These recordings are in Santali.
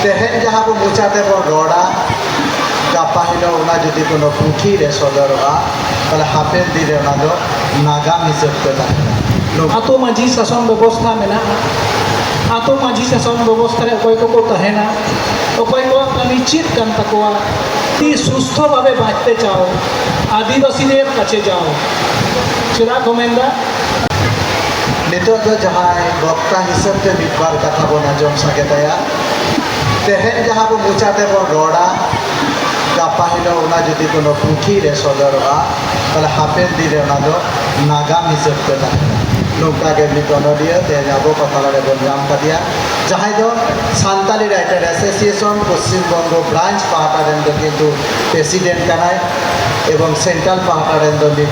ᱛᱮᱦᱮᱧ ᱡᱟᱦᱟᱸ ᱵᱚ ᱢᱚᱪᱟ ᱛᱮᱵᱚᱱ ᱨᱚᱲᱟ ᱜᱟᱯᱟ ᱦᱤᱞᱳᱜ ᱚᱱᱟ ᱡᱩᱫᱤ ᱠᱳᱱᱳ ᱯᱩᱛᱷᱤ ᱨᱮ ᱥᱚᱫᱚᱨᱚᱜᱼᱟ ᱛᱟᱦᱞᱮ ᱦᱟᱯᱮᱱ ᱫᱤᱱ ᱨᱮ ᱚᱱᱟ ᱫᱚ ᱱᱟᱜᱟᱢ ᱦᱤᱥᱟᱹᱵ ᱛᱮ ᱛᱟᱦᱮᱱᱟ ᱟᱛᱳ ᱢᱟᱺᱡᱷᱤ ᱥᱟᱥᱚᱱ ᱵᱮᱵᱚᱥᱛᱷᱟ ᱢᱮᱱᱟᱜᱼᱟ ᱟᱛᱳ ᱢᱟᱺᱡᱷᱤ ᱥᱟᱥᱚᱱ ᱵᱮᱵᱚᱥᱛᱷᱟ ᱨᱮ ᱚᱠᱚᱭ ᱠᱚᱠᱚ ᱛᱟᱦᱮᱱᱟ ᱚᱠᱚᱭ ᱠᱚᱣᱟᱜ ᱠᱟᱹᱢᱤ ᱪᱮᱫ ᱠᱟᱱ ᱛᱟᱠᱚᱣᱟ ᱛᱤ ᱥᱩᱥᱛᱷᱚ ᱵᱷᱟᱵᱮ ᱵᱟᱸᱪᱛᱮ ᱪᱟᱣ ᱟᱹᱫᱤᱵᱟᱹᱥᱤ ᱨᱮᱱ ᱠᱟᱪᱮ ᱡᱟᱣ ᱪᱮᱫᱟᱜ ᱠᱚ ᱢᱮᱱᱫᱟ ᱱᱤᱛᱚᱜ ᱫᱚ ᱡᱟᱦᱟᱸᱭ ᱵᱚᱠᱛᱟ ᱦᱤᱥᱟᱹᱵ ᱛᱮ ᱢᱤᱫ ᱵᱟᱨ ᱠᱟᱛᱷᱟ ᱵᱚᱱ ᱟᱸᱡᱚᱢ ᱥᱟᱸᱜᱮ ᱛᱟᱭᱟ ᱛᱮᱦᱮᱧ ᱡᱟᱦᱟᱸ ᱵᱚ ᱢᱚᱪᱟ ᱛᱮᱵᱚᱱ ᱨᱚᱲᱟ ᱜᱟᱯᱟ ᱦᱤᱞᱳᱜ ᱚᱱᱟ ᱡᱩᱫᱤ ᱠᱳᱱᱳ ᱯᱩᱛᱷᱤ ᱨᱮ ᱥᱚᱫᱚᱨᱚᱜᱼᱟ ᱛᱟᱦᱞᱮ ᱦᱟᱯᱮᱱ ᱫᱤᱱ ᱨᱮ ᱚᱱᱟ ᱫᱚ ᱱᱟᱜᱟᱢ ᱦᱤᱥᱟᱹᱵ ᱛᱮ ᱛᱟᱦᱮᱱᱟ ᱱᱚᱝᱠᱟ ᱜᱮ ᱢᱤᱫ ᱚᱱᱚᱞᱤᱭᱟᱹ ᱛᱮᱦᱮᱧ ᱟᱵᱚ ᱠᱚ ᱛᱟᱞᱟ ᱨᱮ ᱵᱚᱱ ᱧᱟᱢ ᱠᱟᱫᱮᱭᱟ ᱡᱟᱦᱟᱸᱭ ᱫᱚ Santali writer association Paschim Banga branch ᱯᱟᱦᱴᱟ ᱨᱮᱱ ᱫᱚ ᱠᱤᱱᱛᱩ ᱯᱨᱮᱥᱤᱰᱮᱱᱴ ᱠᱟᱱᱟᱭ ᱮᱵᱚᱝ ᱥᱮᱱᱴᱨᱟᱞ ᱯᱟᱦᱴᱟ ᱨᱮᱱ ᱫᱚ ᱢᱤᱫ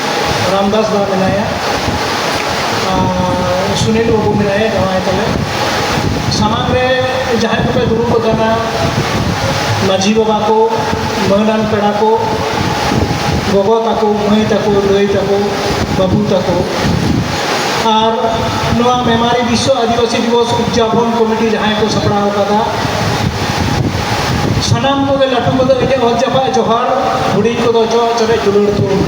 ᱨᱟᱢᱫᱟᱥ ᱫᱟ ᱢᱮᱱᱟᱭᱟ ᱥᱩᱱᱤᱞ ᱵᱟᱹᱵᱩ ᱢᱮᱱᱟᱭᱟ ᱡᱟᱶᱟᱭ ᱛᱟᱞᱮ ᱥᱟᱢᱟᱝ ᱨᱮ ᱡᱟᱦᱟᱸᱭ ᱠᱚᱯᱮ ᱫᱩᱲᱩᱵ ᱟᱠᱟᱱᱟ ᱢᱟᱹᱡᱷᱤ ᱵᱟᱵᱟ ᱠᱚ ᱢᱟᱹᱱᱟᱱ ᱯᱮᱲᱟ ᱠᱚ ᱜᱚᱜᱚ ᱛᱟᱠᱚ ᱢᱟᱹᱭ ᱛᱟᱠᱚ ᱫᱟᱹᱭ ᱛᱟᱠᱚ ᱵᱟᱹᱵᱩ ᱛᱟᱠᱚ ᱟᱨ ᱱᱚᱣᱟ ᱢᱮᱢᱟᱨᱤ ᱵᱤᱥᱥᱚ ᱟᱹᱫᱤᱵᱟᱹᱥᱤ ᱫᱤᱵᱚᱥ ᱩᱫᱽᱡᱟᱯᱚᱱ ᱠᱚᱢᱤᱴᱤ ᱡᱟᱦᱟᱸᱭ ᱠᱚ ᱥᱟᱯᱲᱟᱣ ᱟᱠᱟᱫᱟ ᱥᱟᱱᱟᱢ ᱠᱚᱜᱮ ᱞᱟᱹᱴᱩ ᱠᱚᱫᱚ ᱤᱧᱟᱹᱜ ᱦᱚᱸ ᱪᱟᱯᱟᱜ ᱡᱚᱦᱟᱨ ᱦᱩᱰᱤᱧ ᱠᱚᱫᱚ ᱪᱚᱜ ᱪᱚᱨᱮ ᱫᱩᱞᱟᱹᱲ ᱛᱩᱞ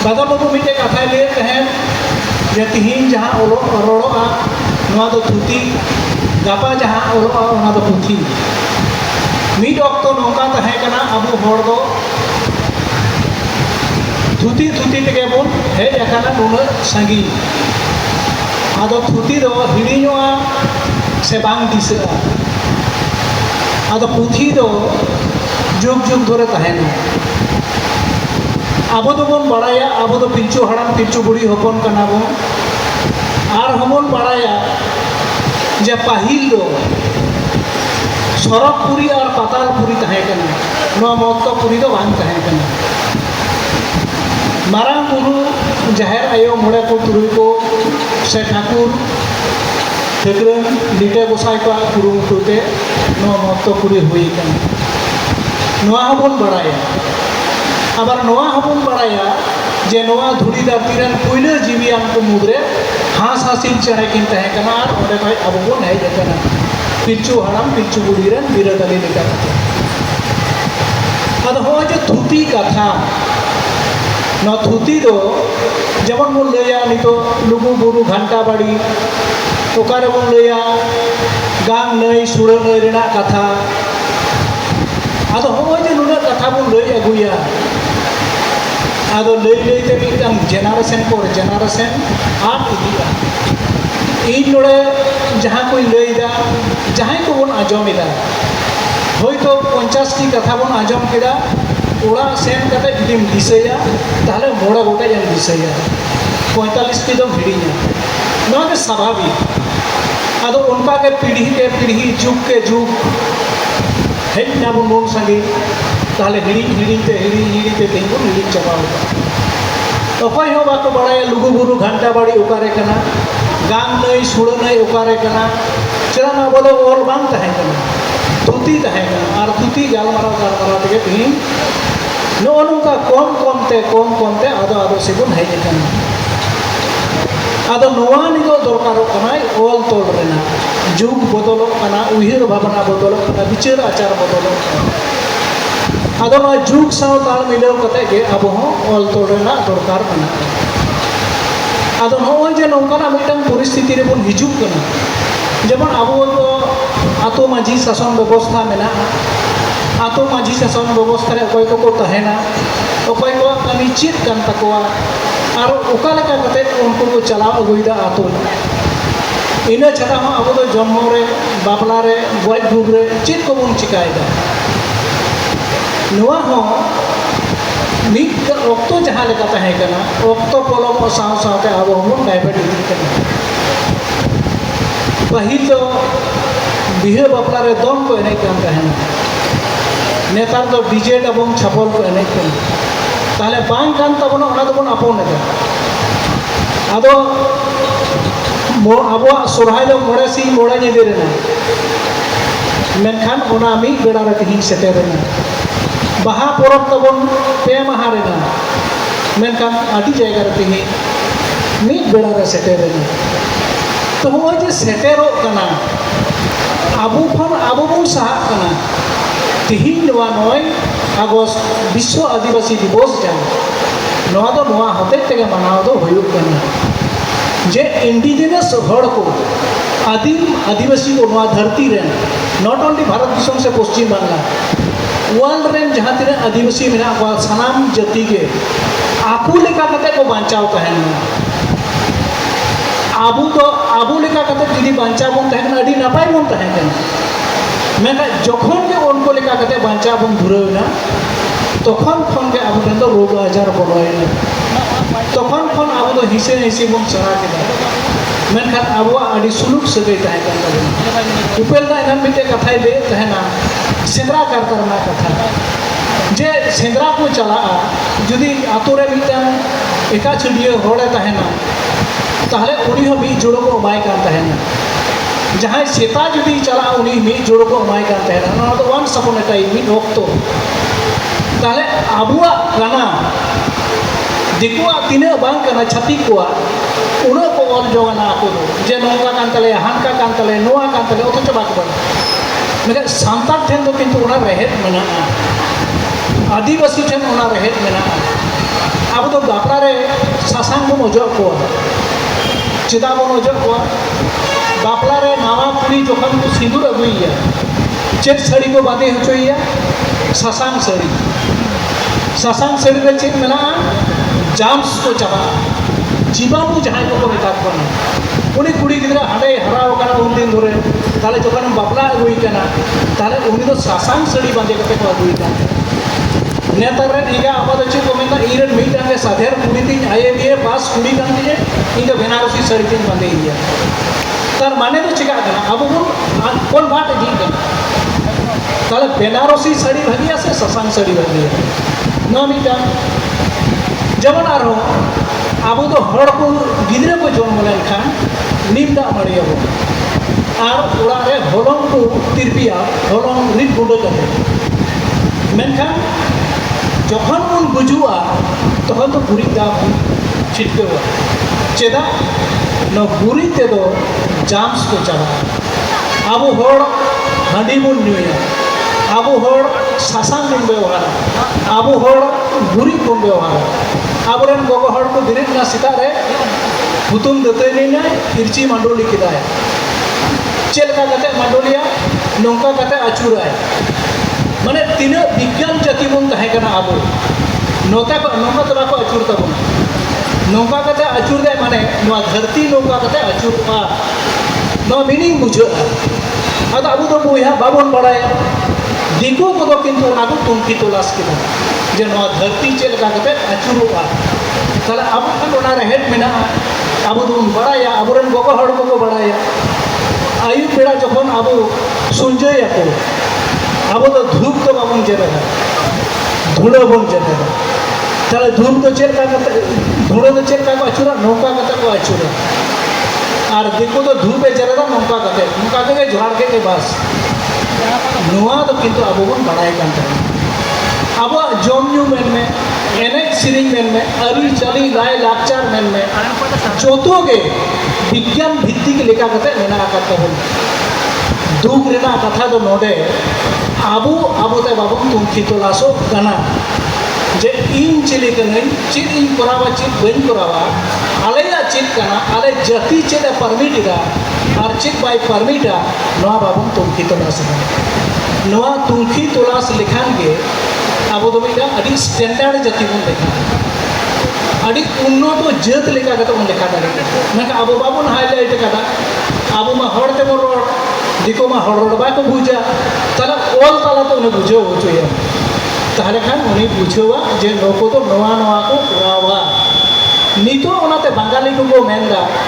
ᱫᱟᱫᱟ ᱵᱟᱹᱵᱩ ᱢᱤᱫᱴᱮᱡ ᱠᱟᱛᱷᱟᱭ ᱞᱟᱹᱭᱮᱫ ᱛᱟᱦᱮᱸᱫ ᱡᱮ ᱛᱤᱦᱤᱧ ᱡᱟᱦᱟᱸ ᱚᱞᱚᱜ ᱨᱚᱲᱚᱜᱼᱟ ᱱᱚᱣᱟ ᱫᱚ ᱛᱷᱩᱛᱤ ᱜᱟᱯᱟ ᱡᱟᱦᱟᱸ ᱚᱞᱚᱜᱼᱟ ᱚᱱᱟ ᱫᱚ ᱯᱩᱛᱷᱤ ᱢᱤᱫ ᱚᱠᱛᱚ ᱱᱚᱝᱠᱟ ᱛᱟᱦᱮᱸ ᱠᱟᱱᱟ ᱟᱵᱚ ᱦᱚᱲ ᱫᱚ ᱛᱷᱩᱛᱤ ᱛᱷᱩᱛᱤ ᱛᱮᱜᱮ ᱵᱚᱱ ᱦᱮᱡ ᱟᱠᱟᱱᱟ ᱱᱩᱱᱟᱹᱜ ᱥᱟᱺᱜᱤᱧ ᱟᱫᱚ ᱛᱷᱩᱛᱤ ᱫᱚ ᱦᱤᱲᱤᱧᱚᱜᱼᱟ ᱥᱮ ᱵᱟᱝ ᱫᱤᱥᱟᱹᱜᱼᱟ ᱟᱫᱚ ᱯᱩᱛᱷᱤ ᱫᱚ ᱡᱩᱜᱽ ᱡᱩᱜᱽ ᱫᱷᱚᱨᱮ ᱛᱟᱦᱮᱱᱟ ᱟᱵᱚ ᱫᱚᱵᱚᱱ ᱵᱟᱲᱟᱭᱟ ᱟᱵᱚ ᱫᱚ ᱯᱤᱞᱪᱩ ᱦᱟᱲᱟᱢ ᱯᱤᱞᱪᱩ ᱵᱩᱲᱦᱤ ᱦᱚᱯᱚᱱ ᱠᱟᱱᱟ ᱵᱚᱱ ᱟᱨ ᱦᱚᱸᱵᱚᱱ ᱵᱟᱲᱟᱭᱟ ᱡᱮ ᱯᱟᱹᱦᱤᱞ ᱫᱚ ᱥᱚᱨᱚᱜᱽᱯᱩᱨᱤ ᱟᱨ ᱯᱟᱛᱟᱞᱯᱩᱨᱤ ᱛᱟᱦᱮᱸ ᱠᱟᱱᱟ ᱱᱚᱣᱟ ᱢᱚᱛᱛᱚᱯᱩᱨᱤ ᱫᱚ ᱵᱟᱝ ᱛᱟᱦᱮᱸ ᱠᱟᱱᱟ ᱢᱟᱨᱟᱝ ᱵᱩᱨᱩ ᱡᱟᱦᱮᱨ ᱟᱭᱳ ᱢᱚᱬᱮ ᱠᱚ ᱛᱩᱨᱩᱭ ᱠᱚ ᱥᱮ ᱴᱷᱟᱹᱠᱩᱨ ᱴᱷᱟᱹᱠᱨᱟᱹᱱ ᱞᱤᱴᱟᱹ ᱜᱚᱥᱟᱭ ᱠᱚᱣᱟᱜ ᱠᱩᱨᱩᱢᱩᱴᱩ ᱛᱮ ᱱᱚᱣᱟ ᱢᱚᱦᱚᱛᱛᱚ ᱠᱩᱲᱤ ᱦᱩᱭ ᱟᱠᱟᱱᱟ ᱱᱚᱣᱟ ᱦᱚᱸᱵᱚᱱ ᱵᱟᱲᱟᱭᱟ ᱟᱵᱟᱨ ᱱᱚᱣᱟ ᱦᱚᱸᱵᱚᱱ ᱵᱟᱲᱟᱭᱟ ᱡᱮ ᱱᱚᱣᱟ ᱫᱷᱩᱲᱤ ᱫᱷᱟᱹᱨᱛᱤ ᱨᱮᱱ ᱯᱩᱭᱞᱟᱹ ᱡᱤᱣᱤᱭᱟᱱ ᱠᱚ ᱢᱩᱫᱽᱨᱮ ᱦᱟᱸᱥ ᱦᱟᱸᱥᱤᱞ ᱪᱮᱬᱮ ᱠᱤᱱ ᱛᱟᱦᱮᱸ ᱠᱟᱱᱟ ᱟᱨ ᱚᱸᱰᱮ ᱠᱷᱚᱱ ᱟᱵᱚ ᱵᱚᱱ ᱦᱮᱡ ᱟᱠᱟᱱᱟ ᱯᱤᱞᱪᱩ ᱦᱟᱲᱟᱢ ᱯᱤᱞᱪᱩ ᱵᱩᱲᱦᱤ ᱨᱮᱱ ᱵᱤᱨᱟᱹᱫᱟᱹᱞᱤ ᱞᱮᱠᱟ ᱠᱟᱛᱮ ᱟᱫᱚ ᱦᱚᱸᱜᱼᱚᱭ ᱡᱮ ᱛᱷᱩᱛᱤ ᱠᱟᱛᱷᱟ ᱱᱚᱣᱟ ᱛᱷᱩᱛᱤ ᱫᱚ ᱡᱮᱢᱚᱱ ᱵᱚᱱ ᱞᱟᱹᱭᱟ ᱱᱤᱛᱚᱜ ᱞᱩᱜᱩ ᱵᱩᱨᱩ ᱜᱷᱟᱱᱴᱟ ᱵᱟᱲᱤ ᱚᱠᱟᱨᱮ ᱵᱚᱱ ᱞᱟᱹᱭᱟ ᱜᱟᱝ ᱱᱟᱹᱭ ᱥᱩᱲᱟᱹ ᱱᱟᱹᱭ ᱨᱮᱱᱟᱜ ᱠᱟᱛᱷᱟ ᱟᱫᱚ ᱦᱚᱸᱜᱼᱚᱭ ᱡᱮ ᱱᱩᱱᱟᱹᱜ ᱠᱟᱛᱷᱟ ᱵᱚᱱ ᱞᱟᱹᱭ ᱟᱹᱜᱩᱭᱟ ᱟᱫᱚ ᱞᱟᱹᱭ ᱞᱟᱹᱭ ᱛᱮ ᱢᱤᱫᱴᱟᱝ ᱡᱮᱱᱟᱨᱮᱥᱚᱱ ᱯᱚᱨ ᱡᱮᱱᱟᱨᱮᱥᱚᱱ ᱟᱫ ᱤᱫᱤᱜᱼᱟ ᱤᱧ ᱱᱚᱰᱮ ᱡᱟᱦᱟᱸ ᱠᱚᱧ ᱞᱟᱹᱭᱫᱟ ᱡᱟᱦᱟᱸᱭ ᱠᱚᱵᱚᱱ ᱟᱸᱡᱚᱢᱮᱫᱟ ᱦᱳᱭᱛᱳ ᱯᱚᱧᱪᱟᱥᱴᱤ ᱠᱟᱛᱷᱟ ᱵᱚᱱ ᱟᱸᱡᱚᱢ ᱠᱮᱫᱟ ᱚᱲᱟᱜ ᱥᱮᱱ ᱠᱟᱛᱮ ᱡᱩᱫᱤᱢ ᱫᱤᱥᱟᱹᱭᱟ ᱛᱟᱦᱞᱮ ᱢᱚᱬᱮ ᱜᱚᱴᱮᱡ ᱮᱢ ᱫᱤᱥᱟᱹᱭᱟ ᱯᱚᱸᱭᱛᱟᱞᱤᱥᱴᱤ ᱫᱚᱢ ᱦᱤᱲᱤᱧᱟ ᱱᱚᱣᱟ ᱜᱮ ᱥᱟᱵᱷᱟᱵᱤᱠ ᱟᱫᱚ ᱚᱱᱠᱟ ᱜᱮ ᱯᱤᱲᱦᱤ ᱠᱮ ᱯᱤᱲᱦᱤ ᱡᱩᱜᱽ ᱠᱮ ᱡᱩᱜᱽ ᱦᱮᱡ ᱱᱟᱵᱚᱱ ᱱᱩᱱ ᱥᱟᱺᱜᱤᱧ ᱛᱟᱦᱞᱮ ᱦᱤᱲᱤᱧ ᱦᱤᱲᱤᱧ ᱛᱮ ᱦᱤᱲᱤᱧ ᱦᱤᱲᱤᱧ ᱛᱮ ᱛᱮᱦᱮᱧ ᱵᱚᱱ ᱦᱤᱲᱤᱧ ᱪᱟᱵᱟ ᱟᱠᱟᱫᱟ ᱚᱠᱚᱭ ᱦᱚᱸ ᱵᱟᱠᱚ ᱵᱟᱲᱟᱭᱟ ᱞᱩᱜᱩᱵᱩᱨᱩ ᱜᱷᱟᱱᱴᱟ ᱵᱟᱲᱮ ᱚᱠᱟᱨᱮ ᱠᱟᱱᱟ ᱜᱟᱝ ᱱᱟᱹᱭ ᱥᱩᱲᱟᱹ ᱱᱟᱹᱭ ᱚᱠᱟᱨᱮ ᱠᱟᱱᱟ ᱪᱮᱫᱟᱜ ᱱᱚᱣᱟ ᱠᱚᱫᱚ ᱚᱞ ᱵᱟᱝ ᱛᱟᱦᱮᱸ ᱠᱟᱱᱟ ᱛᱷᱩᱛᱤ ᱛᱟᱦᱮᱸ ᱠᱟᱱᱟ ᱟᱨ ᱛᱷᱩᱛᱤ ᱜᱟᱞᱢᱟᱨᱟᱣ ᱜᱟᱞᱢᱟᱨᱟᱣ ᱛᱮᱜᱮ ᱛᱮᱦᱮᱧ ᱱᱚᱜᱼᱚ ᱱᱚᱝᱠᱟ ᱠᱚᱢ ᱠᱚᱢ ᱛᱮ ᱠᱚᱢ ᱠᱚᱢ ᱛᱮ ᱟᱫᱚ ᱟᱫᱚ ᱥᱮᱵᱚᱱ ᱦᱮᱡ ᱟᱠᱟᱱᱟ ᱟᱫᱚ ᱱᱚᱣᱟ ᱱᱤᱛᱚᱜ ᱫᱚᱨᱠᱟᱨᱚᱜ ᱠᱟᱱᱟ ᱚᱞ ᱛᱚᱞ ᱨᱮᱱᱟᱜ ᱡᱩᱜᱽ ᱵᱚᱫᱚᱞᱚᱜ ᱠᱟᱱᱟ ᱩᱭᱦᱟᱹᱨ ᱵᱷᱟᱵᱽᱱᱟ ᱵᱚᱫᱚᱞᱚᱜ ᱠᱟᱱᱟ ᱵᱤᱪᱟᱹᱨ ᱟᱪᱟᱨ ᱵᱚᱫᱚᱞᱚᱜ ᱠᱟᱱᱟ ᱟᱫᱚ ᱱᱚᱣᱟ ᱡᱩᱜᱽ ᱥᱟᱶ ᱛᱟᱞ ᱢᱤᱞᱟᱹᱣ ᱠᱟᱛᱮ ᱜᱮ ᱟᱵᱚ ᱦᱚᱸ ᱚᱞ ᱛᱚᱞ ᱨᱮᱱᱟᱜ ᱫᱚᱨᱠᱟᱨ ᱢᱮᱱᱟᱜᱼᱟ ᱟᱫᱚ ᱱᱚᱜᱼᱚᱭ ᱡᱮ ᱱᱚᱝᱠᱟᱱᱟᱜ ᱢᱤᱫᱴᱟᱝ ᱯᱚᱨᱤᱥᱛᱷᱤᱛᱤ ᱨᱮᱵᱚᱱ ᱦᱤᱡᱩᱜ ᱠᱟᱱᱟ ᱡᱮᱢᱚᱱ ᱟᱵᱚ ᱫᱚ ᱟᱛᱳ ᱢᱟᱺᱡᱷᱤ ᱥᱟᱥᱚᱱ ᱵᱮᱵᱚᱥᱛᱷᱟ ᱢᱮᱱᱟᱜᱼᱟ ᱟᱛᱳ ᱢᱟᱺᱡᱷᱤ ᱥᱟᱥᱚᱱ ᱵᱮᱵᱚᱥᱛᱷᱟ ᱨᱮ ᱚᱠᱚᱭ ᱠᱚᱠᱚ ᱛᱟᱦᱮᱱᱟ ᱚᱠᱚᱭ ᱠᱚᱣᱟᱜ ᱠᱟᱹᱢᱤ ᱪᱮᱫ ᱠᱟᱱ ᱛᱟᱠᱚᱣᱟ ᱟᱨ ᱚᱠᱟ ᱞᱮᱠᱟ ᱠᱟᱛᱮᱫ ᱩᱱᱠᱩ ᱠᱚ ᱪᱟᱞᱟᱣ ᱟᱹᱜᱩᱭᱮᱫᱟ ᱟᱛᱳ ᱤᱱᱟᱹ ᱪᱷᱟᱰᱟ ᱦᱚᱸ ᱟᱵᱚ ᱫᱚ ᱡᱚᱱᱢᱚ ᱨᱮ ᱵᱟᱯᱞᱟ ᱨᱮ ᱜᱚᱡ ᱜᱩᱨ ᱨᱮ ᱪᱮᱫ ᱠᱚᱵᱚᱱ ᱪᱤᱠᱟᱹᱭᱮᱫᱟ ᱱᱚᱣᱟ ᱦᱚᱸ ᱢᱤᱫ ᱚᱠᱛᱚ ᱡᱟᱦᱟᱸ ᱞᱮᱠᱟ ᱛᱟᱦᱮᱸ ᱠᱟᱱᱟ ᱚᱠᱛᱚ ᱯᱚᱞᱚᱢᱚᱜ ᱥᱟᱶ ᱥᱟᱶᱛᱮ ᱟᱵᱚ ᱦᱚᱸᱵᱚᱱ ᱰᱟᱭᱵᱷᱟᱨᱴ ᱤᱫᱤᱜ ᱠᱟᱱᱟ ᱯᱟᱹᱦᱤᱞ ᱫᱚ ᱵᱤᱦᱟᱹ ᱵᱟᱯᱞᱟ ᱨᱮ ᱫᱚᱝ ᱠᱚ ᱮᱱᱮᱡ ᱠᱟᱱ ᱛᱟᱦᱮᱱᱟ ᱱᱮᱛᱟᱨ ᱫᱚ ᱰᱤᱡᱮ ᱰᱟᱵᱚᱝ ᱪᱷᱟᱯᱚᱞ ᱠᱚ ᱮᱱᱮᱡ ᱠᱟᱱᱟ ᱛᱟᱦᱞᱮ ᱵᱟᱝ ᱠᱟᱱ ᱛᱟᱵᱚᱱᱟ ᱚᱱᱟ ᱫᱚᱵᱚᱱ ᱟᱯᱚᱱ ᱮᱫᱟ ᱟᱫᱚ ᱟᱵᱚᱣᱟᱜ ᱥᱚᱨᱦᱟᱭ ᱫᱚ ᱢᱚᱬᱮ ᱥᱤᱧ ᱢᱚᱬᱮ ᱧᱤᱫᱟᱹ ᱨᱮᱱᱟᱜ ᱢᱮᱱᱠᱷᱟᱱ ᱚᱱᱟ ᱢᱤᱫ ᱵᱮᱲᱟ ᱨᱮ ᱛᱮᱦᱮᱧ ᱥᱮᱴᱮᱨᱮᱱᱟ ᱵᱟᱦᱟ ᱯᱚᱨᱚᱵᱽ ᱛᱟᱵᱚᱱ ᱯᱮ ᱢᱟᱦᱟ ᱨᱮᱱᱟᱜ ᱢᱮᱱᱠᱷᱟᱱ ᱟᱹᱰᱤ ᱡᱟᱭᱜᱟ ᱨᱮ ᱛᱮᱦᱮᱧ ᱢᱤᱫ ᱵᱮᱲᱟ ᱨᱮ ᱥᱮᱴᱮᱨᱮᱱᱟ ᱛᱚ ᱱᱚᱜᱼᱚᱭ ᱡᱮ ᱥᱮᱴᱮᱨᱚᱜ ᱠᱟᱱᱟ ᱟᱵᱚ ᱠᱷᱚᱱ ᱟᱵᱚ ᱵᱚᱱ ᱥᱟᱦᱟᱜ ᱠᱟᱱᱟ ᱛᱮᱦᱮᱧ ᱱᱚᱣᱟ ᱱᱚᱭ ᱟᱜᱚᱥᱴ ᱵᱤᱥᱥᱚ ᱟᱹᱫᱤᱵᱟᱹᱥᱤ ᱫᱤᱵᱚᱥ ᱡᱟᱦᱟᱸ ᱱᱚᱣᱟ ᱫᱚ ᱱᱚᱣᱟ ᱦᱚᱛᱮᱡ ᱛᱮᱜᱮ ᱢᱟᱱᱟᱣ ᱫᱚ ᱦᱩᱭᱩᱜ ᱠᱟᱱᱟ ᱡᱮ ᱤᱱᱰᱤᱡᱤᱱᱟᱥ ᱦᱚᱲ ᱠᱚ ᱟᱹᱫᱤᱢ ᱟᱹᱫᱤᱵᱟᱹᱥᱤ ᱠᱚ ᱱᱚᱣᱟ ᱫᱷᱟᱹᱨᱛᱤ ᱨᱮ ᱱᱚᱴ ᱚᱱᱞᱤ ᱵᱷᱟᱨᱚᱛ ᱫᱤᱥᱚᱢ ᱥᱮ ᱯᱚᱥᱪᱤᱢ ᱵᱟᱝᱞᱟ ᱣᱟᱨᱞᱰ ᱨᱮᱱ ᱡᱟᱦᱟᱸ ᱛᱤᱱᱟᱹᱜ ᱟᱹᱫᱤᱵᱟᱹᱥᱤ ᱢᱮᱱᱟᱜ ᱠᱚᱣᱟ ᱥᱟᱱᱟᱢ ᱡᱟᱹᱛᱤ ᱜᱮ ᱟᱠᱚ ᱞᱮᱠᱟ ᱠᱟᱛᱮ ᱠᱚ ᱵᱟᱧᱪᱟᱣ ᱛᱟᱦᱮᱱ ᱢᱟ ᱟᱵᱚ ᱫᱚ ᱟᱵᱚ ᱞᱮᱠᱟ ᱠᱟᱛᱮ ᱡᱩᱫᱤ ᱵᱟᱧᱪᱟᱣ ᱵᱚᱱ ᱛᱟᱦᱮᱸ ᱠᱟᱱᱟ ᱟᱹᱰᱤ ᱱᱟᱯᱟᱭ ᱵᱚᱱ ᱛᱟᱦᱮᱸ ᱠᱟᱱᱟ ᱢᱮᱱᱠᱷᱟᱱ ᱡᱚᱠᱷᱚᱱ ᱜᱮ ᱩᱱᱠᱩ ᱞᱮᱠᱟ ᱠᱟᱛᱮ ᱵᱟᱧᱪᱟᱣ ᱵᱚᱱ ᱫᱷᱩᱨᱟᱹᱣᱮᱱᱟ ᱛᱚᱠᱷᱚᱱ ᱠᱷᱚᱱ ᱜᱮ ᱟᱵᱚ ᱴᱷᱮᱱ ᱫᱚ ᱨᱳᱜᱽ ᱟᱡᱟᱨ ᱵᱚᱞᱚᱭᱮᱱᱟ ᱛᱚᱠᱷᱚᱱ ᱠᱷᱚᱱ ᱟᱵᱚ ᱫᱚ ᱦᱤᱥᱟᱹ ᱦᱤᱥᱤ ᱵᱚᱱ ᱥᱮᱬᱟ ᱠᱮᱫᱟ ᱢᱮᱱᱠᱷᱟᱱ ᱟᱵᱚᱣᱟᱜ ᱟᱹᱰᱤ ᱥᱩᱞᱩᱠ ᱥᱟᱹᱜᱟᱹᱭ ᱛᱟᱦᱮᱸ ᱠᱟᱱ ᱛᱟᱵᱚᱱᱟ ᱩᱯᱮᱞ ᱫᱟ ᱮᱱᱟᱱ ᱢᱤᱫᱴᱮᱡ ᱠᱟᱛᱷᱟᱭ ᱞᱟᱹᱭᱮᱫ ᱛᱟᱦᱮᱱᱟ ᱥᱮᱸᱫᱽᱨᱟ ᱠᱟᱨᱠᱟ ᱨᱮᱱᱟᱜ ᱠᱟᱛᱷᱟ ᱡᱮ ᱥᱮᱸᱫᱽᱨᱟ ᱠᱚ ᱪᱟᱞᱟᱜᱼᱟ ᱡᱩᱫᱤ ᱟᱛᱳ ᱨᱮ ᱢᱤᱫᱴᱟᱝ ᱮᱴᱟᱜ ᱪᱷᱟᱹᱰᱭᱟᱹ ᱦᱚᱲᱮ ᱛᱟᱦᱮᱱᱟ ᱛᱟᱦᱞᱮ ᱩᱱᱤ ᱦᱚᱸ ᱢᱤᱫ ᱡᱳᱲᱳ ᱠᱚ ᱮᱢᱟᱭ ᱠᱟᱱ ᱛᱟᱦᱮᱱᱟ ᱡᱟᱦᱟᱸᱭ ᱥᱮᱛᱟ ᱡᱩᱫᱤ ᱪᱟᱞᱟᱜᱼᱟ ᱩᱱᱤ ᱢᱤᱫ ᱡᱳᱲᱳ ᱠᱚ ᱮᱢᱟᱭ ᱠᱟᱱ ᱛᱟᱦᱮᱱᱟ ᱱᱚᱣᱟ ᱫᱚ ᱚᱣᱟᱱᱥ ᱟᱯᱚᱱ ᱮ ᱴᱟᱭᱤᱢ ᱢᱤᱫ ᱚᱠᱛᱚ ᱛᱟᱦᱞᱮ ᱟᱵᱚᱣᱟᱜ ᱠᱟᱱᱟ ᱫᱤᱠᱩᱣᱟᱜ ᱛᱤᱱᱟᱹᱜ ᱵᱟᱝ ᱠᱟᱱᱟ ᱪᱷᱟᱹᱛᱤᱠ ᱠᱚᱣᱟᱜ ᱩᱱᱟᱹᱜ ᱠᱚ ᱚᱞ ᱡᱚᱝ ᱟᱱᱟ ᱟᱠᱚ ᱫᱚ ᱡᱮ ᱱᱚᱝᱠᱟ ᱠᱟᱱ ᱛᱟᱞᱮᱭᱟ ᱦᱟᱱᱠᱟ ᱠᱟᱱ ᱛᱟᱞᱮᱭᱟ ᱱᱚᱣᱟ ᱠᱟᱱ ᱛᱟᱞᱮᱭᱟ ᱚᱛᱷᱚᱪᱚ ᱵᱟᱠᱚ ᱵᱟᱲᱟᱭᱟ ᱢᱮᱱᱠᱷᱟᱱ ᱥᱟᱱᱛᱟᱲ ᱴᱷᱮᱱ ᱫᱚ ᱠᱤᱱᱛᱩ ᱚᱱᱟ ᱨᱮᱦᱮᱫ ᱢᱮᱱᱟᱜᱼᱟ ᱟᱹᱫᱤᱵᱟᱹᱥᱤ ᱴᱷᱮᱱ ᱚᱱᱟ ᱨᱮᱦᱮᱫ ᱢᱮᱱᱟᱜᱼᱟ ᱟᱵᱚ ᱫᱚ ᱵᱟᱯᱞᱟ ᱨᱮ ᱥᱟᱥᱟᱝ ᱵᱚᱱ ᱚᱡᱚᱜ ᱠᱚᱣᱟ ᱪᱮᱫᱟᱜ ᱵᱚᱱ ᱚᱡᱚᱜ ᱠᱚᱣᱟ ᱵᱟᱯᱞᱟ ᱨᱮ ᱱᱟᱣᱟ ᱠᱩᱲᱤ ᱡᱚᱠᱷᱚᱱ ᱠᱚ ᱥᱤᱸᱫᱩᱨ ᱟᱹᱜᱩᱭᱮᱭᱟ ᱪᱮᱫ ᱥᱟᱹᱲᱤ ᱠᱚ ᱵᱟᱸᱫᱮ ᱦᱚᱪᱚᱭᱮᱭᱟ ᱥᱟᱥᱟᱝ ᱥᱟᱹᱲᱤ ᱥᱟᱥᱟᱝ ᱥᱟᱹᱲᱤ ᱨᱮ ᱪᱮᱫ ᱢᱮᱱᱟᱜᱼᱟ ᱡᱟᱢ ᱠᱚ ᱪᱟᱵᱟᱜᱼᱟ ᱡᱤᱵᱟᱱᱩ ᱡᱟᱦᱟᱸᱭ ᱠᱚᱠᱚ ᱢᱮᱛᱟ ᱠᱚ ᱠᱟᱱᱟ ᱩᱱᱤ ᱠᱩᱲᱤ ᱜᱤᱫᱽᱨᱟᱹ ᱦᱟᱸᱰᱮ ᱦᱟᱨᱟ ᱟᱠᱟᱱᱟ ᱩᱱ ᱫᱤᱱ ᱫᱷᱚᱨᱮ ᱛᱟᱦᱞᱮ ᱡᱚᱠᱷᱚᱱᱮᱢ ᱵᱟᱯᱞᱟ ᱟᱹᱜᱩᱭ ᱠᱟᱱᱟ ᱛᱟᱦᱞᱮ ᱩᱱᱤ ᱫᱚ ᱥᱟᱥᱟᱝ ᱥᱟᱹᱲᱤ ᱵᱟᱸᱫᱮ ᱠᱟᱛᱮ ᱠᱚ ᱟᱹᱜᱩᱭ ᱠᱟᱱ ᱱᱮᱛᱟᱨ ᱨᱮᱱ ᱮᱸᱜᱟ ᱟᱯᱟ ᱫᱚ ᱪᱮᱫ ᱠᱚ ᱢᱮᱱᱫᱟ ᱤᱧ ᱨᱮᱱ ᱢᱤᱫᱴᱟᱝ ᱜᱮ ᱥᱟᱫᱷᱮᱨ ᱠᱩᱲᱤ ᱛᱤᱧ ᱟᱭᱮ ᱵᱤᱭᱮ ᱯᱟᱥ ᱠᱩᱲᱤ ᱠᱟᱱ ᱛᱤᱧᱟᱹ ᱤᱧ ᱫᱚ ᱵᱮᱱᱟᱨᱚᱥᱤ ᱥᱟᱹᱲᱤ ᱛᱤᱧ ᱵᱟᱸᱫᱮᱭᱮᱭᱟ ᱛᱟᱨ ᱢᱟᱱᱮ ᱫᱚ ᱪᱮᱠᱟᱜ ᱠᱟᱱᱟ ᱟᱵᱚ ᱵᱚᱱ ᱠᱚᱱᱵᱷᱟᱨᱴ ᱤᱫᱤᱜ ᱠᱟᱱᱟ ᱛᱟᱦᱞᱮ ᱵᱮᱱᱟᱨᱚᱥᱤ ᱥᱟᱹᱲᱤ ᱵᱷᱟᱹᱜᱤᱭᱟ ᱥᱮ ᱥᱟᱥᱟᱝ ᱥᱟᱹᱲᱤ ᱵᱷᱟᱹᱜᱤᱭᱟ ᱱᱚᱣᱟ ᱢᱤᱫᱴᱟᱝ ᱡᱮᱢᱚᱱ ᱟᱨᱦᱚᱸ ᱟᱵᱚ ᱫᱚ ᱦᱚᱲ ᱠᱚ ᱜᱤᱫᱽᱨᱟᱹ ᱠᱚ ᱡᱚᱱᱢ ᱞᱮᱱᱠᱷᱟᱱ ᱱᱤᱢ ᱫᱟᱜ ᱢᱟᱹᱲᱤ ᱟᱵᱚᱱ ᱟᱨ ᱚᱲᱟᱜ ᱨᱮ ᱦᱚᱞᱚᱝ ᱠᱚ ᱛᱤᱨᱯᱤᱭᱟ ᱦᱚᱞᱚᱝ ᱨᱤᱫ ᱜᱩᱸᱰᱟᱹ ᱠᱟᱛᱮ ᱢᱮᱱᱠᱷᱟᱱ ᱡᱚᱠᱷᱚᱱ ᱵᱚᱱ ᱜᱩᱡᱩᱜᱼᱟ ᱛᱚᱠᱷᱚᱱ ᱫᱚ ᱜᱩᱨᱤᱡ ᱫᱟᱜ ᱵᱚᱱ ᱪᱷᱤᱴᱠᱟᱹᱣᱟ ᱪᱮᱫᱟᱜ ᱱᱚᱣᱟ ᱜᱩᱨᱤᱡ ᱛᱮᱫᱚ ᱡᱟᱢᱥ ᱠᱚ ᱪᱟᱵᱟᱜᱼᱟ ᱟᱵᱚ ᱦᱚᱲ ᱦᱟᱺᱰᱤ ᱵᱚᱱ ᱧᱩᱭᱟ ᱟᱵᱚ ᱦᱚᱲ ᱥᱟᱥᱟᱝ ᱵᱚᱱ ᱵᱮᱵᱚᱦᱟᱨᱟ ᱟᱵᱚ ᱦᱚᱲ ᱜᱩᱨᱤᱡ ᱵᱚᱱ ᱵᱮᱣᱦᱟᱨᱟ ᱟᱵᱚᱨᱮᱱ ᱜᱚᱜᱚ ᱦᱚᱲ ᱠᱚ ᱵᱮᱨᱮᱫ ᱮᱱᱟ ᱥᱮᱛᱟᱜ ᱨᱮ ᱦᱩᱛᱩᱢ ᱫᱟᱹᱛᱟᱹᱱᱤ ᱮᱱᱟᱭ ᱯᱷᱤᱨᱪᱤ ᱢᱟᱰᱚᱞᱤ ᱠᱮᱫᱟᱭ ᱪᱮᱫ ᱞᱮᱠᱟ ᱠᱟᱛᱮ ᱢᱟᱰᱚᱞᱤᱭᱟ ᱱᱚᱝᱠᱟ ᱠᱟᱛᱮ ᱟᱹᱪᱩᱨᱟᱭ ᱢᱟᱱᱮ ᱛᱤᱱᱟᱹᱜ ᱵᱤᱜᱽᱜᱟᱱ ᱡᱟᱹᱛᱤ ᱵᱚᱱ ᱛᱟᱦᱮᱸ ᱠᱟᱱᱟ ᱟᱵᱚ ᱱᱚᱛᱮ ᱠᱚ ᱱᱚᱝᱠᱟ ᱛᱮ ᱵᱟᱠᱚ ᱟᱹᱪᱩᱨ ᱛᱟᱵᱚᱱᱟ ᱱᱚᱝᱠᱟ ᱠᱟᱛᱮ ᱟᱹᱪᱩᱨ ᱫᱟᱭ ᱢᱟᱱᱮ ᱱᱚᱣᱟ ᱫᱷᱟᱹᱨᱛᱤ ᱱᱚᱝᱠᱟ ᱠᱟᱛᱮ ᱟᱹᱪᱩᱨᱚᱜᱼᱟ ᱱᱚᱣᱟ ᱢᱤᱱᱤᱝ ᱵᱩᱡᱷᱟᱹᱜᱼᱟ ᱟᱫᱚ ᱟᱵᱚ ᱫᱚ ᱵᱚᱭᱦᱟ ᱵᱟᱵᱚᱱ ᱵᱟᱲᱟᱭᱟ ᱫᱤᱠᱩ ᱠᱚᱫᱚ ᱠᱤᱱᱛᱩ ᱚᱱᱟ ᱠᱚ ᱛᱩᱱᱠᱷᱤ ᱛᱚᱞᱟᱥ ᱠᱮᱫᱟ ᱡᱮ ᱱᱚᱣᱟ ᱫᱷᱟᱹᱨᱛᱤ ᱪᱮᱫ ᱞᱮᱠᱟ ᱠᱟᱛᱮ ᱟᱹᱪᱩᱨᱚᱜᱼᱟ ᱛᱟᱦᱞᱮ ᱟᱵᱚ ᱴᱷᱮᱱ ᱚᱱᱟ ᱨᱮᱦᱮᱫ ᱢᱮᱱᱟᱜᱼᱟ ᱟᱵᱚ ᱫᱚᱵᱚᱱ ᱵᱟᱲᱟᱭᱟ ᱟᱵᱚᱨᱮᱱ ᱜᱚᱜᱚ ᱦᱚᱲ ᱠᱚᱠᱚ ᱵᱟᱲᱟᱭᱟ ᱟᱹᱭᱩᱵ ᱵᱮᱲᱟ ᱡᱚᱠᱷᱚᱱ ᱟᱵᱚ ᱥᱩᱧᱡᱟᱹᱭᱟᱠᱚ ᱟᱵᱚ ᱫᱚ ᱫᱷᱩᱯ ᱫᱚ ᱵᱟᱵᱚᱱ ᱡᱮᱨᱮᱫᱟ ᱫᱷᱩᱲᱟᱹ ᱵᱚᱱ ᱡᱮᱨᱮᱫᱟ ᱛᱟᱦᱞᱮ ᱫᱷᱩᱯ ᱫᱚ ᱪᱮᱫ ᱞᱮᱠᱟ ᱠᱟᱛᱮ ᱫᱷᱩᱲᱟᱹ ᱫᱚ ᱪᱮᱫ ᱞᱮᱠᱟ ᱠᱚ ᱟᱹᱪᱩᱨᱟ ᱱᱚᱝᱠᱟ ᱠᱟᱛᱮ ᱠᱚ ᱟᱹᱪᱩᱨᱟ ᱟᱨ ᱫᱤᱠᱩ ᱫᱚ ᱫᱷᱩᱯ ᱮ ᱡᱮᱨᱮᱫᱟ ᱱᱚᱝᱠᱟ ᱠᱟᱛᱮ ᱱᱚᱝᱠᱟ ᱠᱟᱛᱮ ᱡᱚᱦᱟᱨ ᱠᱮᱫ ᱜᱮ ᱵᱟᱥ ᱱᱚᱣᱟ ᱫᱚ ᱠᱤᱱᱛᱩ ᱟᱵᱚ ᱵᱚᱱ ᱵᱟᱲᱟᱭ ᱠᱟᱱ ᱛᱟᱦᱮᱸ ᱟᱵᱚᱣᱟᱜ ᱡᱚᱢ ᱧᱩ ᱢᱮᱱᱢᱮ ᱮᱱᱮᱡ ᱥᱮᱨᱮᱧ ᱢᱮᱱᱢᱮ ᱟᱹᱨᱤᱪᱟᱹᱞᱤ ᱞᱟᱭ ᱞᱟᱠᱪᱟᱨ ᱢᱮᱱᱢᱮ ᱡᱚᱛᱚ ᱜᱮ ᱵᱤᱜᱽᱜᱟᱱ ᱵᱷᱤᱛᱛᱤᱠ ᱞᱮᱠᱟ ᱠᱟᱛᱮ ᱢᱮᱱᱟᱜ ᱟᱠᱟᱫ ᱛᱟᱵᱚᱱᱟ ᱫᱩᱠ ᱨᱮᱱᱟᱜ ᱠᱟᱛᱷᱟ ᱫᱚ ᱱᱚᱰᱮ ᱟᱵᱚ ᱟᱵᱚᱛᱮ ᱵᱟᱵᱚᱱ ᱛᱩᱱᱠᱷᱤ ᱛᱚᱞᱟᱥᱚᱜ ᱠᱟᱱᱟ ᱡᱮ ᱤᱧ ᱪᱤᱞᱤ ᱠᱟᱹᱱᱟᱹᱧ ᱪᱮᱫ ᱤᱧ ᱠᱚᱨᱟᱣᱟ ᱪᱮᱫ ᱵᱟᱹᱧ ᱠᱚᱨᱟᱣᱟ ᱟᱞᱮᱭᱟᱜ ᱪᱮᱫ ᱠᱟᱱᱟ ᱟᱞᱮ ᱡᱟᱹᱛᱤ ᱪᱮᱫ ᱮ ᱯᱟᱨᱢᱤᱴ ᱮᱫᱟ ᱟᱨ ᱪᱮᱫ ᱵᱟᱭ ᱯᱟᱨᱢᱤᱴᱟ ᱱᱚᱣᱟ ᱵᱟᱵᱚᱱ ᱛᱩᱱᱠᱷᱤ ᱛᱚᱞᱟᱥ ᱮᱫᱟ ᱱᱚᱣᱟ ᱛᱩᱱᱠᱷᱤ ᱛᱚᱞᱟᱥ ᱞᱮᱠᱷᱟᱱ ᱜᱮ ᱟᱵᱚ ᱫᱚ ᱢᱤᱫᱴᱟᱝ ᱟᱹᱰᱤ ᱥᱴᱮᱱᱰᱟᱨᱰ ᱡᱟᱹᱛᱤ ᱵᱚᱱ ᱞᱮᱠᱷᱟ ᱟᱹᱰᱤ ᱩᱱᱱᱚᱛᱚ ᱡᱟᱹᱛ ᱞᱮᱠᱟ ᱠᱟᱛᱮ ᱵᱚᱱ ᱞᱮᱠᱷᱟ ᱫᱟᱲᱮᱭᱟᱜᱼᱟ ᱢᱮᱱᱠᱷᱟᱱ ᱟᱵᱚ ᱵᱟᱵᱚᱱ ᱦᱟᱭᱞᱟᱭᱤᱴ ᱟᱠᱟᱫᱟ ᱟᱵᱚ ᱢᱟ ᱦᱚᱲ ᱛᱮᱵᱚᱱ ᱨᱚᱲ ᱫᱤᱠᱩ ᱢᱟ ᱦᱚᱲ ᱨᱚᱲ ᱵᱟᱠᱚ ᱵᱩᱡᱟ ᱛᱟᱦᱚᱞᱮ ᱚᱞ ᱛᱟᱞᱟᱛᱮ ᱩᱱᱤ ᱵᱩᱡᱷᱟᱹᱣ ᱦᱚᱪᱚᱭᱮᱢ ᱛᱟᱦᱚᱞᱮ ᱠᱷᱟᱱ ᱩᱱᱤ ᱵᱩᱡᱷᱟᱹᱣᱟ ᱡᱮ ᱱᱩᱠᱩ ᱫᱚ ᱱᱚᱣᱟ ᱱᱚᱣᱟ ᱠᱚ ᱠᱚᱨᱟᱣᱟ ᱱᱤᱛᱚᱜ ᱚᱱᱟᱛᱮ ᱵᱟᱝᱜᱟᱞᱤ ᱠᱚᱠᱚ ᱢᱮᱱᱫᱟ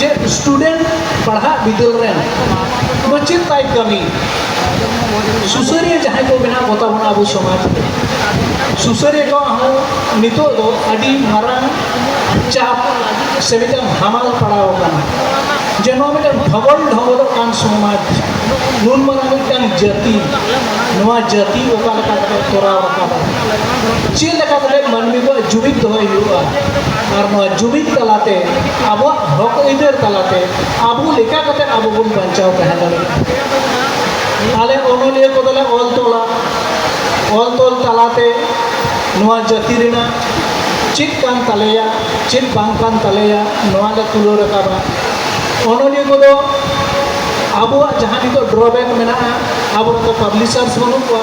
ᱪᱮᱫ ᱥᱴᱩᱰᱮᱱᱴ ᱯᱟᱲᱦᱟᱜ ᱵᱤᱫᱟᱹᱞ ᱨᱮᱱ ᱢᱟᱪᱮᱫ ᱛᱟᱭ ᱠᱟᱹᱢᱤ ᱥᱩᱥᱟᱹᱨᱤᱭᱟᱹ ᱡᱟᱦᱟᱸᱭ ᱠᱚ ᱵᱮᱱᱟᱣ ᱠᱚᱛᱟ ᱵᱚᱱᱟ ᱟᱵᱚ ᱥᱚᱢᱟᱡᱽ ᱨᱮ ᱥᱩᱥᱟᱹᱨᱤᱭᱟᱹ ᱠᱚ ᱦᱚᱸ ᱱᱤᱛᱚᱜ ᱫᱚ ᱟᱹᱰᱤ ᱢᱟᱨᱟᱝ ᱪᱟᱯ ᱥᱮ ᱢᱤᱫᱴᱟᱝ ᱦᱟᱢᱟᱞ ᱯᱟᱲᱟᱣ ᱟᱠᱟᱱᱟ ᱡᱮ ᱱᱚᱣᱟ ᱢᱤᱫᱴᱟᱝ ᱰᱷᱚᱜᱚᱞ ᱰᱷᱚᱜᱚᱞᱚᱜ ᱠᱟᱱ ᱥᱚᱢᱟᱡᱽ ᱱᱩᱱ ᱢᱟᱨᱟᱝ ᱢᱤᱫᱴᱟᱝ ᱡᱟᱹᱛᱤ ᱱᱚᱣᱟ ᱡᱟᱹᱛᱤ ᱚᱠᱟ ᱞᱮᱠᱟ ᱠᱟᱛᱮ ᱛᱚᱨᱟᱣ ᱨᱟᱠᱟᱵᱟ ᱪᱮᱫ ᱞᱮᱠᱟ ᱠᱟᱛᱮ ᱢᱟᱹᱱᱢᱤ ᱠᱚᱣᱟᱜ ᱡᱩᱢᱤᱫ ᱫᱚᱦᱚᱭ ᱦᱩᱭᱩᱜᱼᱟ ᱟᱨ ᱱᱚᱣᱟ ᱡᱩᱢᱤᱫ ᱛᱟᱞᱟᱛᱮ ᱟᱵᱚᱣᱟᱜ ᱦᱚᱠ ᱟᱹᱭᱫᱟᱹᱨ ᱛᱟᱞᱟᱛᱮ ᱟᱵᱚ ᱞᱮᱠᱟ ᱠᱟᱛᱮ ᱟᱵᱚ ᱵᱚᱱ ᱵᱟᱧᱪᱟᱣ ᱛᱟᱦᱮᱸ ᱫᱟᱲᱮᱭᱟᱜᱼᱟ ᱟᱞᱮ ᱚᱱᱚᱞᱤᱭᱟᱹ ᱠᱚᱫᱚᱞᱮ ᱚᱞ ᱛᱚᱞᱟ ᱚᱞ ᱛᱚᱞ ᱛᱟᱞᱟᱛᱮ ᱱᱚᱣᱟ ᱡᱟᱹᱛᱤ ᱨᱮᱱᱟᱜ ᱪᱮᱫ ᱠᱟᱱ ᱛᱟᱞᱮᱭᱟ ᱪᱮᱫ ᱵᱟᱝ ᱠᱟᱱ ᱛᱟᱞᱮᱭᱟ ᱱᱚᱣᱟ ᱞᱮ ᱛᱩᱞᱟᱹᱣ ᱨᱟᱠᱟᱵᱟ ᱚᱱᱚᱞᱤᱭᱟᱹ ᱠᱚᱫᱚ ᱟᱵᱚᱣᱟᱜ ᱡᱟᱦᱟᱸ ᱱᱤᱛᱚᱜ ᱰᱨᱚᱵᱮᱠ ᱢᱮᱱᱟᱜᱼᱟ ᱟᱵᱚ ᱨᱮᱱ ᱫᱚ ᱯᱟᱵᱽᱞᱤᱥᱟᱨᱥ ᱵᱟᱹᱱᱩᱜ ᱠᱚᱣᱟ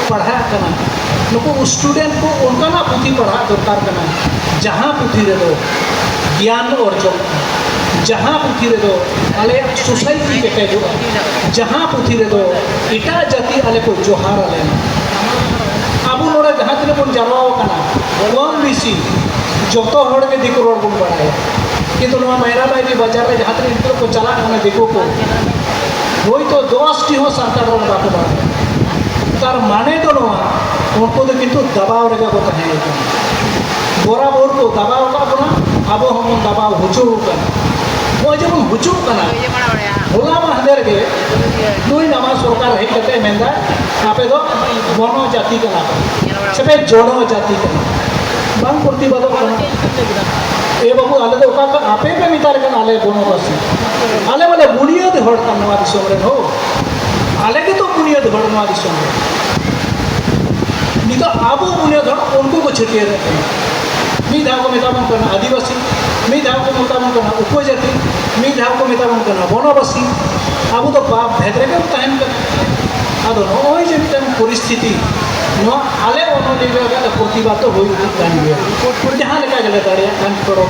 ᱯᱟᱲᱦᱟᱜ ᱠᱟᱱᱟ ᱱᱩᱠᱩ ᱥᱴᱩᱰᱮᱱᱴ ᱠᱚ ᱚᱱᱠᱟᱱᱟᱜ ᱯᱩᱛᱷᱤ ᱯᱟᱲᱦᱟᱜ ᱫᱚᱨᱠᱟᱨ ᱠᱟᱱᱟ ᱡᱟᱦᱟᱸ ᱯᱩᱛᱷᱤ ᱨᱮᱫᱚ ᱜᱮᱭᱟᱱ ᱚᱨᱡᱚᱱ ᱡᱟᱦᱟᱸ ᱯᱩᱛᱷᱤ ᱨᱮᱫᱚ ᱟᱞᱮᱭᱟᱜ ᱥᱳᱥᱟᱭᱴᱤ ᱠᱮᱴᱮᱡᱚᱜᱼᱟ ᱡᱟᱦᱟᱸ ᱯᱩᱛᱷᱤ ᱨᱮᱫᱚ ᱮᱴᱟᱜ ᱡᱟᱹᱛᱤ ᱟᱞᱮ ᱠᱚ ᱡᱚᱦᱟᱨ ᱟᱞᱮ ᱟᱵᱚ ᱱᱚᱰᱮ ᱡᱟᱦᱟᱸ ᱛᱤᱱᱟᱹᱜ ᱵᱚᱱ ᱡᱟᱨᱣᱟ ᱟᱠᱟᱱᱟ ᱠᱚᱢ ᱵᱮᱥᱤ ᱡᱚᱛᱚ ᱦᱚᱲ ᱜᱮ ᱫᱤᱠᱩ ᱨᱚᱲ ᱵᱚᱱ ᱵᱟᱲᱟᱭᱟ ᱠᱤᱱᱛᱩ ᱱᱚᱣᱟ ᱢᱟᱭᱨᱟ ᱢᱟᱭᱨᱤ ᱵᱟᱡᱟᱨ ᱨᱮ ᱡᱟᱦᱟᱸ ᱛᱤᱱᱟᱹᱜ ᱱᱤᱛᱚᱜ ᱠᱚ ᱪᱟᱞᱟᱜ ᱠᱟᱱᱟ ᱫᱤᱠᱩ ᱠᱚ ᱦᱳᱭᱛᱳ ᱫᱚᱥᱴᱤ ᱦᱚᱸ ᱥᱟᱱᱛᱟᱲ ᱨᱚᱲ ᱵᱟᱠᱚ ᱵᱟᱲᱟᱭᱟ ᱛᱟᱨ ᱢᱟᱱᱮ ᱫᱚ ᱱᱚᱣᱟ ᱩᱱᱠᱩ ᱫᱚ ᱠᱤᱱᱛᱩ ᱫᱟᱵᱟᱣ ᱨᱮᱜᱮ ᱠᱚ ᱛᱟᱦᱮᱸ ᱠᱟᱱᱟ ᱵᱚᱨᱟᱵᱚᱨ ᱠᱚ ᱫᱟᱵᱟᱣ ᱟᱠᱟᱫ ᱵᱚᱱᱟ ᱟᱵᱚ ᱦᱚᱸᱵᱚᱱ ᱫᱟᱵᱟᱣ ᱦᱚᱪᱚ ᱟᱠᱟᱱᱟ ᱱᱚᱜᱼᱚᱭ ᱡᱮᱵᱚᱱ ᱦᱚᱪᱚᱜ ᱠᱟᱱᱟ ᱦᱚᱞᱟ ᱢᱟᱦᱫᱮᱨ ᱜᱮ ᱱᱩᱭ ᱱᱟᱣᱟ ᱥᱚᱨᱠᱟᱨ ᱦᱮᱡ ᱠᱟᱛᱮ ᱢᱮᱱᱫᱟ ᱟᱯᱮ ᱫᱚ ᱵᱚᱱᱚ ᱡᱟᱹᱛᱤ ᱠᱟᱱᱟ ᱯᱮ ᱥᱮᱯᱮ ᱡᱚᱱᱚ ᱡᱟᱹᱛᱤ ᱠᱟᱱᱟ ᱵᱟᱝ ᱯᱨᱚᱛᱤᱵᱟᱫᱚᱜ ᱠᱟᱱᱟ ᱮ ᱵᱟᱹᱵᱩ ᱟᱞᱮ ᱫᱚ ᱚᱠᱟ ᱟᱯᱮ ᱯᱮ ᱢᱮᱛᱟᱞᱮ ᱠᱟᱱᱟ ᱟᱞᱮ ᱵᱚᱱᱚᱵᱟᱥᱤ ᱟᱞᱮ ᱢᱟᱞᱮ ᱵᱩᱱᱤᱭᱟᱹᱫ ᱦᱚᱲ ᱠᱟᱱ ᱱᱚᱣᱟ ᱫᱤᱥᱚᱢ ᱨᱮᱱ ᱦᱚᱸ ᱟᱞᱮ ᱜᱮᱛᱚ ᱵᱩᱱᱤᱭᱟᱹᱫ ᱦᱚᱲ ᱱᱚᱣᱟ ᱫᱤᱥᱚᱢ ᱨᱮ ᱱᱤᱛᱚᱜ ᱟᱵᱚ ᱵᱩᱱᱤᱭᱟᱹᱫ ᱦᱚᱲ ᱩᱱᱠᱩ ᱠᱚ ᱪᱷᱟᱹᱴᱭᱟᱹᱨ ᱮᱫ ᱠᱟᱱᱟ ᱢᱤᱫ ᱫᱷᱟᱣ ᱠᱚ ᱢᱮᱛᱟ ᱵᱚᱱ ᱠᱟᱱᱟ ᱟᱹᱫᱤᱵᱟᱹᱥᱤ ᱢᱤᱫ ᱫᱷᱟᱣ ᱠᱚ ᱢᱮᱛᱟ ᱵᱚᱱ ᱠᱟᱱᱟ ᱩᱯᱚᱡᱟᱹᱛᱤ ᱢᱤᱫ ᱫᱷᱟᱣ ᱠᱚ ᱢᱮᱛᱟ ᱵᱚᱱ ᱠᱟᱱᱟ ᱵᱚᱱᱚᱵᱟᱥᱤ ᱟᱵᱚ ᱫᱚ ᱵᱟᱯ ᱵᱷᱮᱫ ᱨᱮᱜᱮ ᱵᱚᱱ ᱛᱟᱦᱮᱱ ᱠᱟᱱᱟ ᱟᱫᱚ ᱱᱚᱜᱼᱚᱭ ᱡᱮ ᱢᱤᱫᱴᱟᱝ ᱯᱚᱨᱤᱥᱛᱷᱤᱛᱤ ᱱᱚᱣᱟ ᱟᱞᱮ ᱚᱱᱚᱞᱤᱭᱟᱹ ᱨᱮᱭᱟᱜ ᱯᱨᱚᱛᱤᱵᱟᱫ ᱫᱚ ᱦᱩᱭ ᱤᱫᱤᱜ ᱠᱟᱱ ᱜᱮᱭᱟ ᱡᱟᱦᱟᱸ ᱞᱮᱠᱟ ᱜᱮᱞᱮ ᱫᱟᱲᱮᱭᱟᱜ ᱠᱟᱱ ᱠᱚᱨᱚᱢ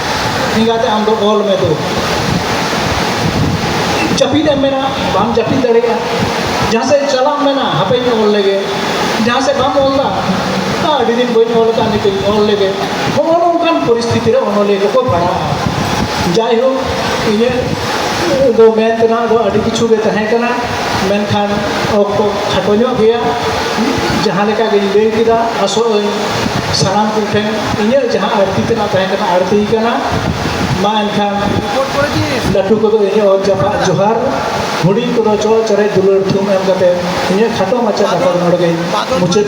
ᱮᱸᱜᱟᱛᱮ ᱟᱢ ᱫᱚ ᱚᱞ ᱢᱮ ᱫᱩ ᱡᱟᱹᱯᱤᱫ ᱮᱢ ᱢᱮᱱᱟ ᱵᱟᱢ ᱡᱟᱹᱯᱤᱫ ᱫᱟᱲᱮᱭᱟᱜᱼᱟ ᱡᱟᱦᱟᱸ ᱥᱮᱫ ᱪᱟᱞᱟᱜ ᱢᱮᱱᱟ ᱦᱟᱯᱮᱧ ᱚᱞ ᱞᱮᱜᱮ ᱡᱟᱦᱟᱸ ᱥᱮᱫ ᱵᱟᱢ ᱚᱞ ᱫᱟ ᱟᱹᱰᱤ ᱫᱤᱱ ᱵᱟᱹᱧ ᱚᱞ ᱟᱠᱟᱫ ᱱᱤᱛᱚᱜ ᱤᱧ ᱚᱞ ᱞᱮᱜᱮ ᱦᱚᱸᱜᱼᱚ ᱱᱚᱝᱠᱟᱱ ᱯᱚᱨᱤᱥᱛᱷᱤᱛᱤ ᱨᱮ ᱚᱱᱚᱞᱤᱭᱟᱹ ᱠᱚᱠᱚ ᱯᱟᱲᱟᱜᱼᱟ ᱡᱟᱭᱦᱳᱠ ᱤᱧᱟᱹᱜ ᱫᱚ ᱢᱮᱱ ᱛᱮᱱᱟᱜ ᱫᱚ ᱟᱹᱰᱤ ᱠᱤᱪᱷᱩ ᱜᱮ ᱛᱟᱦᱮᱸ ᱠᱟᱱᱟ ᱢᱮᱱᱠᱷᱟᱱ ᱚᱠᱛᱚ ᱠᱷᱟᱴᱚ ᱧᱚᱜ ᱜᱮᱭᱟ ᱡᱟᱦᱟᱸ ᱞᱮᱠᱟ ᱜᱤᱧ ᱞᱟᱹᱭ ᱠᱮᱫᱟ ᱟᱥᱚᱜ ᱟᱹᱧ ᱥᱟᱱᱟᱢ ᱠᱚᱴᱷᱮᱱ ᱤᱧᱟᱹᱜ ᱡᱟᱦᱟᱸ ᱟᱹᱲᱛᱤ ᱛᱮᱱᱟᱜ ᱛᱟᱦᱮᱸ ᱠᱟᱱᱟ ᱟᱹᱲᱛᱤ ᱠᱟᱱᱟ ᱢᱟ ᱮᱱᱠᱷᱟᱱ ᱞᱟᱹᱴᱩ ᱠᱚᱫᱚ ᱤᱧᱟᱹᱜ ᱚᱛ ᱡᱟᱯᱟᱜ ᱡᱚᱦᱟᱨ ᱦᱩᱰᱤᱧ ᱠᱚᱫᱚ ᱪᱚ ᱪᱚᱨᱮ ᱫᱩᱞᱟᱹᱲ ᱛᱷᱩᱢ ᱮᱢ ᱠᱟᱛᱮ ᱤᱧᱟᱹᱜ ᱠᱷᱟᱴᱚ ᱢᱟᱪᱷᱟ ᱠᱟᱛᱷᱟ ᱫᱚ ᱱᱚᱰᱮ ᱜᱮ ᱢᱩᱪᱟᱹᱫ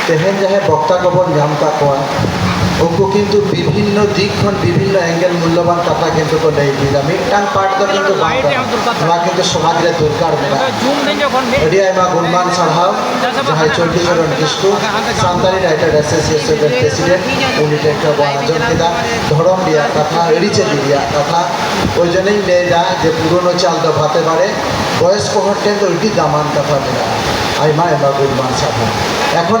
ᱛᱮᱦᱮᱧ ᱡᱟᱦᱟᱸᱭ ᱵᱚᱠᱛᱟ ᱠᱚᱵᱚᱱ ᱧᱟᱢ ᱠᱟᱜ ᱠᱚᱣᱟ ᱩᱱᱠᱩ ᱠᱤᱱᱛᱩ ᱵᱤᱵᱷᱤᱱᱱᱚ ᱫᱤᱠ ᱠᱷᱚᱱ ᱵᱤᱵᱷᱤᱱᱱᱚ ᱮᱝᱜᱮᱞ ᱢᱩᱞᱞᱚᱵᱟᱱ ᱠᱟᱛᱷᱟ ᱠᱤᱱᱛᱩ ᱠᱚ ᱞᱟᱹᱭ ᱤᱫᱤᱭᱮᱫᱟ ᱢᱤᱫᱴᱟᱝ ᱯᱟᱴ ᱫᱚ ᱠᱤᱱᱛᱩ ᱵᱟᱝ ᱠᱟᱱᱟ ᱱᱚᱣᱟ ᱠᱤᱱᱛᱩ ᱥᱚᱢᱟᱡᱽ ᱨᱮ ᱫᱚᱨᱠᱟᱨ ᱢᱮᱱᱟᱜᱼᱟ ᱟᱹᱰᱤ ᱟᱭᱢᱟ ᱜᱩᱱᱢᱟᱱ ᱥᱟᱨᱦᱟᱣ ᱡᱟᱦᱟᱸᱭ ᱪᱚᱱᱰᱤᱪᱚᱨᱚᱱ ᱠᱤᱥᱠᱩ ᱥᱟᱱᱛᱟᱲᱤ ᱨᱟᱭᱴᱟᱨ ᱮᱥᱳᱥᱤᱭᱮᱥᱚᱱ ᱨᱮᱱ ᱯᱨᱮᱥᱤᱰᱮᱱᱴ ᱩᱱᱤ ᱴᱷᱮᱱ ᱠᱷᱚᱱ ᱵᱚᱱ ᱟᱸᱡᱚᱢ ᱠᱮᱫᱟ ᱫᱷᱚᱨᱚᱢ ᱨᱮᱭᱟᱜ ᱠᱟᱛᱷᱟ ᱟᱹᱨᱤᱪᱟᱹᱞᱤ ᱨᱮᱭᱟᱜ ᱠᱟᱛᱷᱟ ᱳᱭ ᱡᱚᱱᱤᱧ ᱞᱟᱹᱭᱫᱟ ᱡᱮ ᱯᱩᱨᱳᱱᱳ ᱪᱟᱞ ᱫᱚ ᱵᱷᱟᱛᱮ ᱵᱟᱲᱮ ᱵᱚᱭᱚᱥᱠᱚ ᱦᱚᱲ ᱴᱷᱮᱱ ᱫᱚ ᱟᱹᱰᱤ ᱫᱟᱢᱟᱱ ᱠᱟᱛᱷᱟ ᱢᱮᱱᱟᱜᱼᱟ ᱟᱭᱢᱟ ᱟᱭᱢᱟ ᱜᱩᱱᱢᱟᱱ ᱥᱟᱨᱦᱟᱣ ᱮᱠᱷᱚᱱ